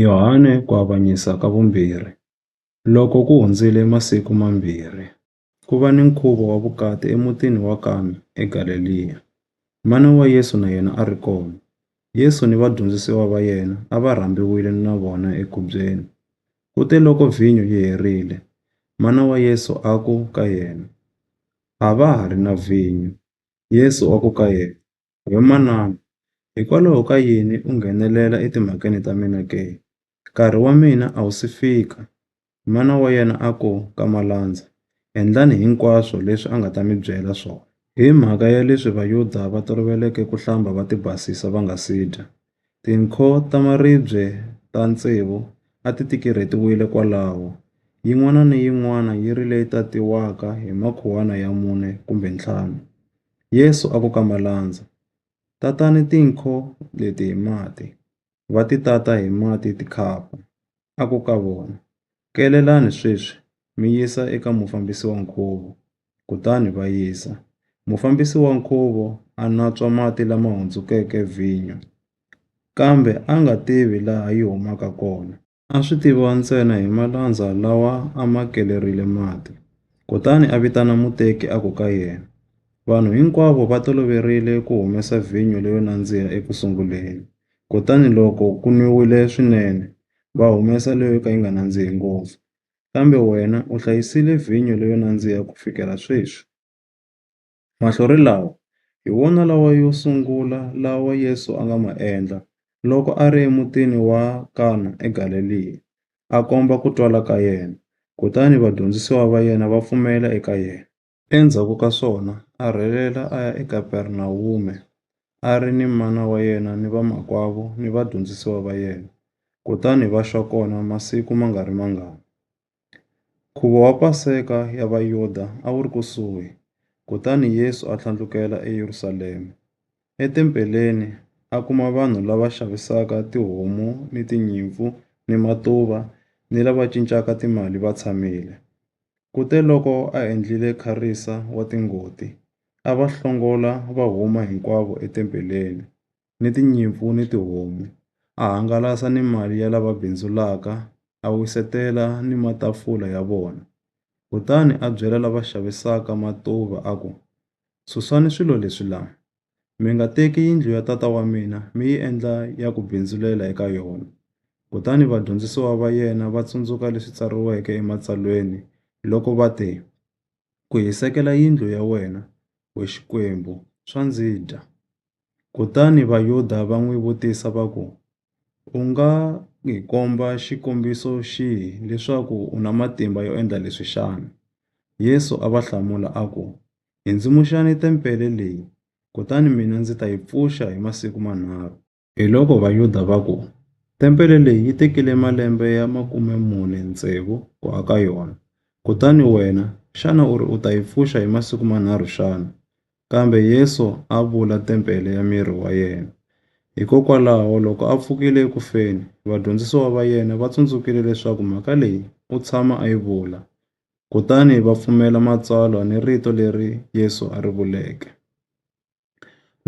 Yohane ku avanyisa ka vumbirhi. Loko ku hundzile masiku mambirhi, ku va ni nkhuvo wa vukati emutini wa Kana eGaleliya. Mana wa Yesu na yena a ri kona. Yesu ni vadyondzisiwa va yena a va rhambiwile na vona ekhubyeni. Kuteloko vhinyo yi herile, mana wa Yesu a ku ka yena, A va ha ri na vhinyo. Yesu a ku ka yena, He manana, hikwalaho ka yini u nghenelela etimhakeni ta mina ke? Nkarhi wa mina a wu si fika. Mana wa yena a ku ka Malandza, Endlani hinkwaswo leswi a nga ta mi byela swona. Hi mhaka ya leswi Vayuda va toloveleke ku hlamba va tibasisa va nga si dya, Tinkho ta maribye ta tsevu a ti tikirhetiwile kwalaho, yin'wana ni yin'wana yi ri leyi tatiwaka hi makhuwana ya mune kumbe ntlhanu. Yesu a ku ka malandza, Tatani tinkho leti hi mati. Va ti tata hi mati tikhapa. A ku ka vona, Kelelani sweswi mi yisa eka mufambisi wa nkhuvo. kutani va yisa. Mufambisi wa nkhuvo a natswa mati lama hundzukeke vhinyo, kambe a nga tivi laha yi humaka kona. A swi tiviwa ntsena hi malandza lawa a ma kelerile mati. Kutani a vitana muteki a ku ka yena, Vanhu hinkwavo va toloverile ku humesa vhinyo leyo nandziha eku sunguleni, kutani loko ku nwiwile swinene, va humesa leyo ka yi nga nandzihi ngopfu. Kambe wena u hlayisile vhinyo leyo nandziha ku fikela sweswi. Mahlori lawa hi wona lawa yo sungula lawa Yesu a nga ma endla loko a ri emutini wa Kana eGaleliya, a komba ku twala ka yena, kutani vadyondzisiwa va yena va pfumela eka yena. Endzhaku ka swona a rhelela a ya eKapernawume, a ri ni mana wa yena ni vamakwavo ni vadyondzisiwa va yena, kutani va xa kona masiku ma nga ri mangani. Nkhuvo wa Paseka ya Vayuda a wu ri kusuhi, kutani Yesu a tlhandlukela eYerusalema. Etempeleni a kuma vanhu lava xavisaka tihomu ni tinyimpfu ni matuva ni lava cincaka timali va tshamile. Kuteloko a endlile kharisa wa tingoti, a va hlongola va huma hinkwavo etempeleni, ni tinyimpfu ni tihomu, a hangalasa ni mali ya lava bindzulaka, a wisetela ni matafula ya vona. Kutani a byela lava xavisaka matuva a ku, Susani swilo leswi la! Mi nga teki yindlu ya Tata wa mina mi yi endla ya ku bindzulela eka yona. Kutani vadyondzisiwa va yena va tsundzuka leswi tsariweke eMatsalweni loko va te, Ku hisekela yindlu ya wena, we Xikwembu, swa ndzi dya. Kutani Vayuda va n'wi vutisa va ku, U nga hi komba xikombiso xihi leswaku u na matimba yo endla leswi xana? Yesu a va hlamula a ku, Ndzi-ndzi-muxani tempele leyi, kutani mina ndzi ta yi pfuxa hi masiku manharhu. Hiloko Vayuda va ku, Tempele leyi yi tekile malembe ya makume mune tsevu ku aka yona, kutani wena xana u ri u ta yi pfuxa hi masiku manharhu xana? Kambe Yesu a vula tempele ya miri wa yena. Hikokwalaho loko a pfukile eku feni, vadyondzisiwa va yena va tsundzukile leswaku mhaka leyi u tshama a yi vula, kutani va pfumela matsalwa ni rito leri Yesu a ri vuleke.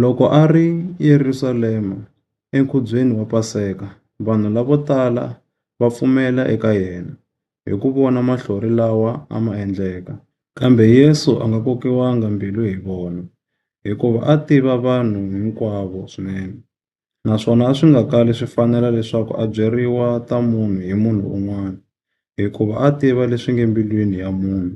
Loko a ri eYerusalema enkhubyeni wa Paseka, vanhu lavo tala va pfumela eka yena hi ku vona mahlori lawa a ma endleka. Kambe Yesu a nga kokiwanga mbilu hi vona, hikuva a tiva vanhu hinkwavo swinene. naswona a swi nga kali swi fanela leswaku a byeriwa ta munhu hi munhu un'wana, hikuva a a tiva leswi nge mbilwini ya munhu.